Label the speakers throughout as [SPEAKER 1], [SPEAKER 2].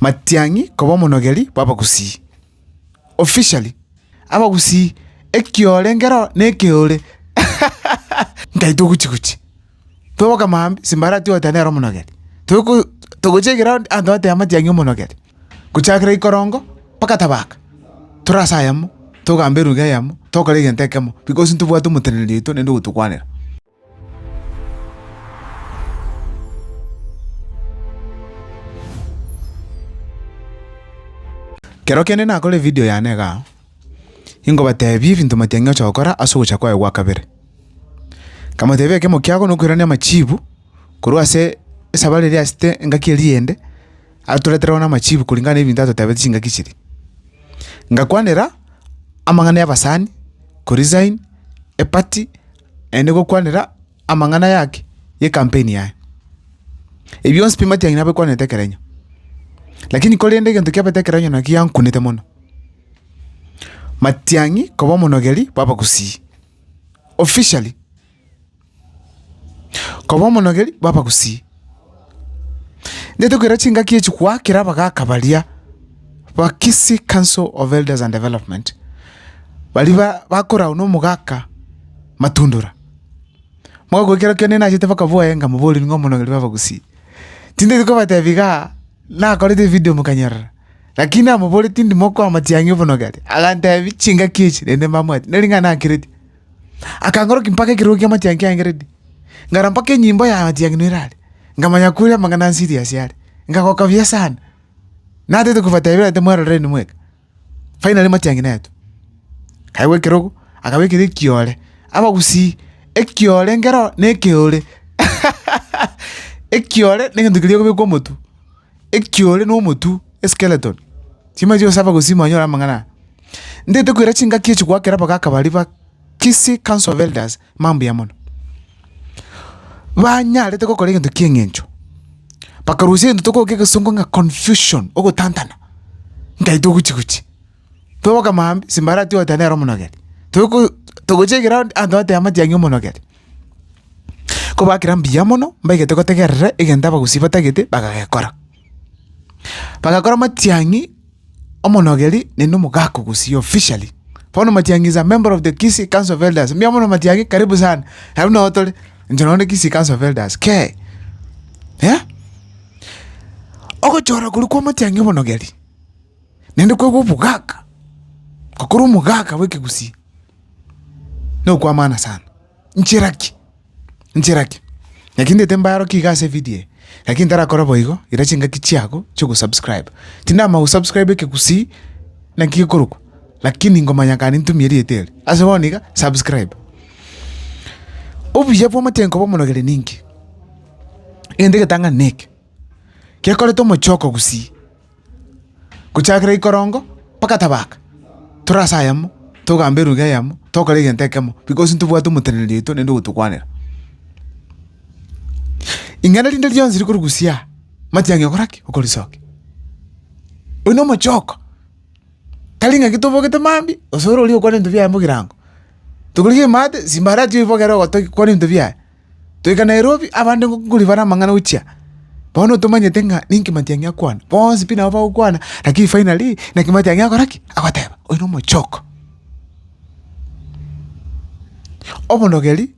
[SPEAKER 1] Matiang'i koba omonogeri bw'abagusii, officially, abagusii ekiorengero nekeore nkaitwa oguchi guchi. Toboka maambia simbarati goeta nere omonogeri. Toko togochia egeroundi abanto bateba matiang'i omonogeri. Gochakera ikorongo mpaka tabaka tore ase ayemo togamba eruga eyemo tokora egento ekemo because ntobwate omoteneneri oito nende ogotokwanera. Kero kende nakore evidio yane iga, ingobateebia ebinto matiang'e gocha gokora ase ogocha kwaye gwa kabere. Nkamoteebia ekemo kiago na okoirania amachiibu korwa ase esabari eria asete engaki eria eyende, atoretere bono amachiibu kuringana na ebinto atotebete chingaki chiria. Ngakwanera amang'ana y'abasani, Korisaini, Epati. Naende gokwanera amang'ana aya ake y'ekampeni yaye. Ebi bionsi pi matiang'ina abekwanete ekero enywa. Lakini korende egento kiabete ekero enywa naki giankunete mono, matiang'i koba omonogeri bw'abagusii, officially koba omonogeri bw'abagusii. Netokeire chingaki echi goakera abagaaka baria ba Kisii Council of Elders and Development, baria ba bakoragwa na omogaka Matundura. Mogaka oyio kero kende nachete mpaka boye nkamobori ng'a omonogeri bwa Abagusii. Tindi kobatebia igaa, nakorete evideo mokanyorora, lakini namoboreti ndimo koamatiang'ia obonogeri, agantebia chingaki echi rende mbamwati, neri ng'a nakereti. Akangorokia mpaka ekerogo ki'amatiang'i kiaengeretie, ngara mpaka enyimbo y'amatiang'i noira are, nkamanya kore amang'ana a Siriasi are. Nkagoka buya sana, natete kobatebia ere timweroreni mweka. Finally amatiang'i naetwe. Akaigwa ekerogo, akabekera ekiore, abagusii, ekiore nkero nekeore ekiore negento keria ogobekwa omotwe. ekiore na omotwe, eskeleton, chimanye osaba gosima onyore amang'ana aya. Ntaete koira chingaki echi goakera mpaka akabari ba Kisii Council of Elders, mambia mono. Banyarete gokora egento kia eng'encho, bakarusia egento tokogweta egesongo ng'a confusion, ogotantana, ntaito ogochi gochi. toboka maambia ase mbare atiga goteba nere omonogete. Tokoyo togochia egeround abanto bateba amatiang'i omonogete. Ko bakera mbuya mono mbaigete gotegerera egento abagusii batagete bagagekora. Bagakora amatiang'i omonogeri naende omogaka ogusii officially. Bono matiang'i is a member of the Kisii council of elders mbuya mono matiang'i karibu sana. Aye buna otore inche nonya Kisii council of elders kei eh. Ogochora korwa kwa amatiang'i omonogeri. Naende koigwa obogaaka, gokorwa omogaaka bw'ekegusii nokw'amaana sana. Nchera ki? Nchera ki? Naki ndete mbarokie iga ase evidio eye, lakini ntarakora boigo, ira chingaki chiago chi'ogosubscribe. Tindamanya gosubscribe ekegusii naki gekorokwa, lakini ngomanya kare nintumie erieta eri, ase bono iga, subscribe. Obuya bw'amachenu koba omonogere ninki? Egento egetang'ani neke, gekorete omochie okogusii. gochakera ikorongo mpaka tabaaka, tore ase ayemo, togambe eruga eyemo, tokore egento ekemo bikos ntobwate omoteneneri oito naende ogotokwanera. Ing'ana rinde rionsi rikorugusiaa matiang'i okora ki? Okorisokia. Oyio na omochoko, tari ng'aki tobogete mambia gose ore oria okwane ebinto biaye mogirango, tokorigia emate simba arati oibogere ogotogia kwane ebinto biaye. Toika Nairobi, abande ngokori bare amang'ana gochia. Bono tomanyete ng'a ninki matiang'i akwana. Bonsi pi nabo bagokwana, lakini finally naki matiang'i akore ki? Agoteba, oyo nomochoko. Obonogeri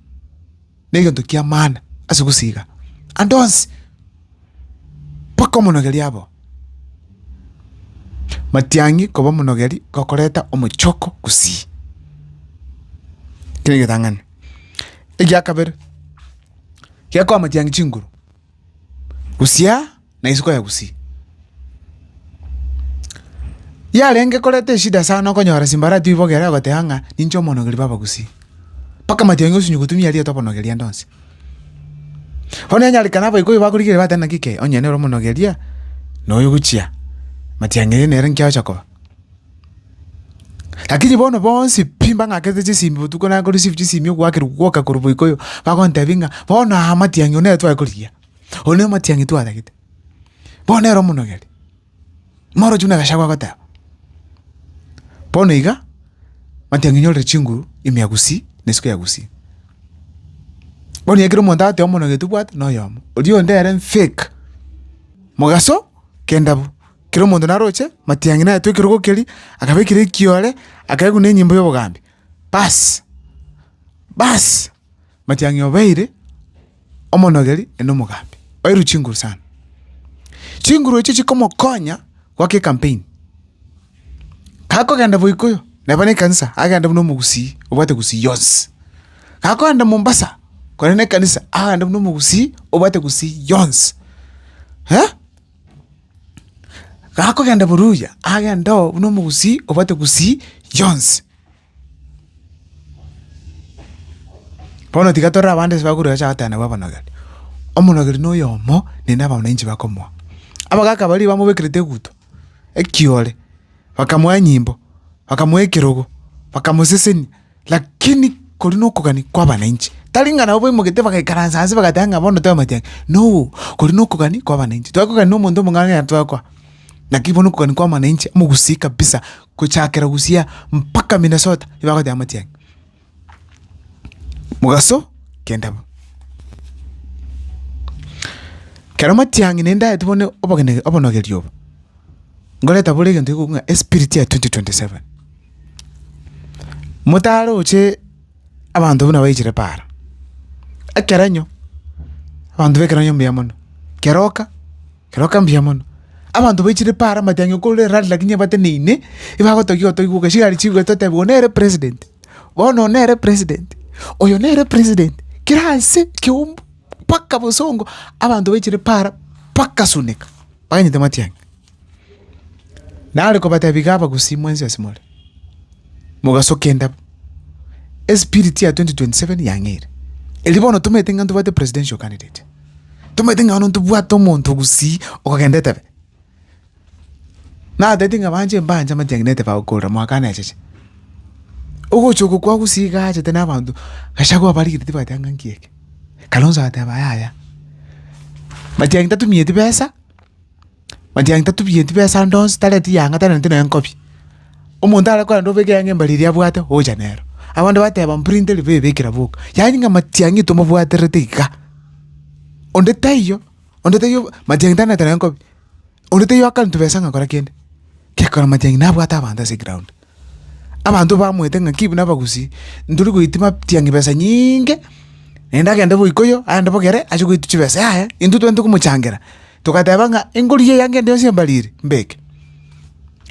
[SPEAKER 1] na egento ki'amana ase gosiiga ande onsi, mpaka omonogeri aboo. Matiang'i koba omonogeri gokoreta omochoko gusii. Kere egetang'ani. Egia kabere, gekoamatiangia chinguru, gusia na isiko ya gusii. Yarenge koreta eshida sana okonyora simbarati oibogere ogoteba ng'a ninche omonogeri bw'abagusii, mpaka amatiang'i osinye gotumia erieta obonogeri ande onsi. Bono onyarekane abaikoi bakorigereria bagotebi naki kei onye nere omonogeria na oyo ogochia matiang'iri nere nki agocha koba. Lakini bono bonsi pi mbang'akerete chisimi botuko na nko receive chisimi ogoakerwa gwoka korwa boiko oyo, bagontebia ng'a bono aa amatiang'i oyo nere tware korigia, oyo ne omatiang'i twatagete, bono nere omonogeri. Morochi buna gachagua agoteba. Bono iga, amatiang'i onyorire chinguru ime ya gusii na isiko ya gusii. Bono ekero omonto agotebi omonogeri tobwati, noyomo, oria onde ere fake, mogaso kenda bo. kera omonto naroche matiang'i nayetwe ekerogo keria, akabekera ekiore, akaeguna enyimbo y'obogambi. Baasi, baasi, matiang'i obeire omonogeri ende omogambi, oeirwe chinguru sana. Chinguru echio chikomokonya goaka ekampeni. Gakogenda boikoyo, neba na ekanisa, agende buna omogusii obwate gusii yonsi. Gakogenda Mombasa, korende na ekanisa, agende buna omogusii obwate gusii yonsi. Gakogenda boruya, agende oo buna omogusii obwate gusii yonsi. Bono tiga torore abande ase bakorwa bacha goteba nabwo abanogeri, omonogeri na oyomo ne na abananchi bakomoa. Abagaka baria bamobekerete eguto, ekiore, bakamoa enyimbo, bakamoa ekerogo, bakamosesenia. Lakini kori nokogania kwabananchi, tari ng'a nabo baimoketie bagaikaransa ase bagateba ng'a bono twamate ake, no, kori nokogania kwabananchi. Twakogania nomonto omong'ao onye twakwa, naki bono okogania kwamananchi mogusii kabisa, gochakera gusii mpaka Minnesota igo bagoteba amate ake. Mogaso kenda bo. Kero matiang'i naende aete bono obogene obonogerio obo, ngoreta bore egento ekogokwa ng'a espirit ya twenty twenty seven. Motaroche abanto buna baichire paaro, ekerenyo abanto b'ekerenyo mbuya mono, keroka keroka mbuya mono, abanto baichire paaro amatiang'i okore rally lakini ebateneine ebagotogia otoigwe ogasiga are chibuga totebe oyo nere president, bono oyo nere president, oyo nere president, kera ase ekeumbu mpaka bosongo abanto baichire paaro mpaka suneka, bagainyote matiang'i. Nare kobatebia iga abagusii mwensi ase more, mogasoka endabo, espiriti ya 2027 yang'eire. Erio bono tomanyete ng'a ntobwate presidential candidate, tomanyete ng'a bono ntobwate omonto gusii okogenda etebe. Natete ng'a banche mbanche amatiang'i netebe agokorera mwakana echeche. Ogocha oko kwa gusii iga aachete na abanto, Gachagua abarigetie tibwati anga nki eke, Kalonzo agateba yaya. Matiang'i tatumieti besa. Manchee yang'ita tubirie tibesa ndonsi tareti yang'a tareti nonya nkobi. Omonto are korenda obeke yang'a mbare eria abwate ogocha nero. Abande bateba mpuri nteri bee bekera boka. Yaani ng'a matiang'i tomobwaterete igaa. Onde taiyo, onde taiyo matiang'i tari nete nonya nkobi. Onde taiyo akare ntibesa ng'a kora kende. Gekora matiang'i nabwate abanto ase egraound. Abanto bamoete ng'a ki buna abagusi, ntori goitima tiang'i besa nyinge, naende agende bo ikoyo, aende bo kere, ache goitwa chibesa yaya, intwe twente komochangera, togateba ng'a engorie eyange ende yonsi embarire, mbeke.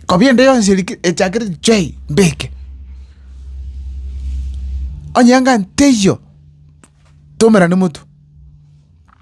[SPEAKER 1] Kobia ende yonsi eri ki echakire chwei, mbeke. Onye anga teiyo, tomerane motwe.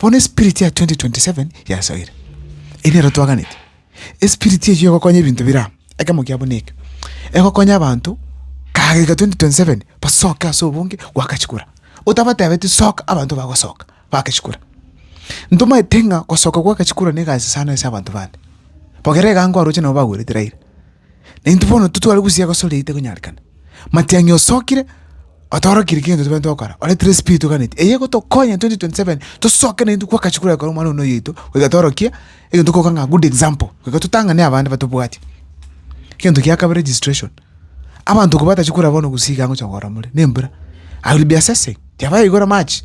[SPEAKER 1] Bono espirit ya 2027 yasoire, erio nero twaganeti. Espirit eyio egokonya ebinto bire aa, ekemo kiabo neke, egokonya abanto kagega 2027 basoke ase obonge goaka chikura, otabatebeti soka abanto bagosoka baake chikura. Ntomaete ng'a gosoka goaka chikura negasi sana ase abanto bande. Bogere iga ango aroche nabo bagwerete raira. Naintwe bono titware gosia gosore eyio tekonyarekana. Matiang'i osokire, otorokirie kegento tobwenerete gokora, oretire espiritu oganeti, eyio egotokonya 2027 tosoke naintwe gwakachi koria gokora omwana one oyo oito, goika tworokie egento tokoroka ng'a good example, goika totang'ane abande batobwati. Egento gia kabere registration, abanto ko batachia korwa bono gusii iga ngocha kogora more, na embura, I will be assessing, kiabayaigora match.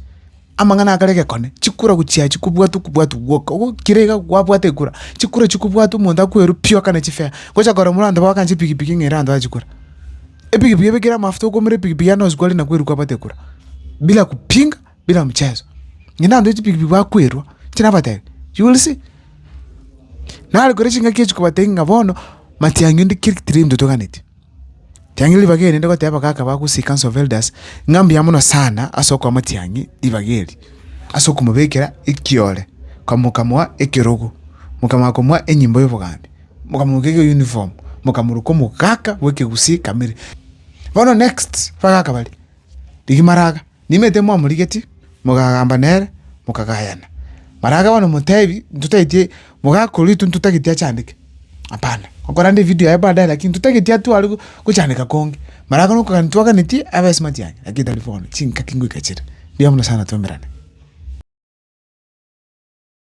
[SPEAKER 1] amang'ana akare gekone, chikura gochia chikobwatwa okobwatwa gwoka ogo kere iga gwabwate ekura, chikura chikobwatwa omonto akwerwe pi okane chifea, gocha korora buna abanto bagokancha epikipiki ng'a ere abanto bachikura. Epikipiki ebekire amafuta okoumera epikipiki yane nosikore na kwerwa kwabwate ekura, bila kupinga, bila mchezo. Ngende abanto chipikipiki bakwerwa, inche nabatebi, you will see. Nare kore chingaki echi kobatebia ng'a bono matiang'i onde kere tirinto toganeti. Tiangira ribaga eri rinde goteba kaka bagosika Hans Velders ng'a mbuya mono sana ase okomotiangi ribaga eri ase okomobekera ekiore mokamoa ekerogo mokamanya komoa enyimbo y'obogambi mokamogeka uniform mokamorwa komogaka bw'ekegusii kamili. Bono next bagaka baria rigiimaraga. Nimanyete timwamorigetie, mogagamba nere, mokagayana. Maraga bono motebi, Intotagete mogakora intwe intotagete achandike. Hapana. Okorande evideo yaye baadaye lakini intotagete atware gochandeka konge. Maraga nokogania ntitwaganetie abe smart yane, lakini tari bono, chingaki ngoika chire. Mbuya mono sana twemerane.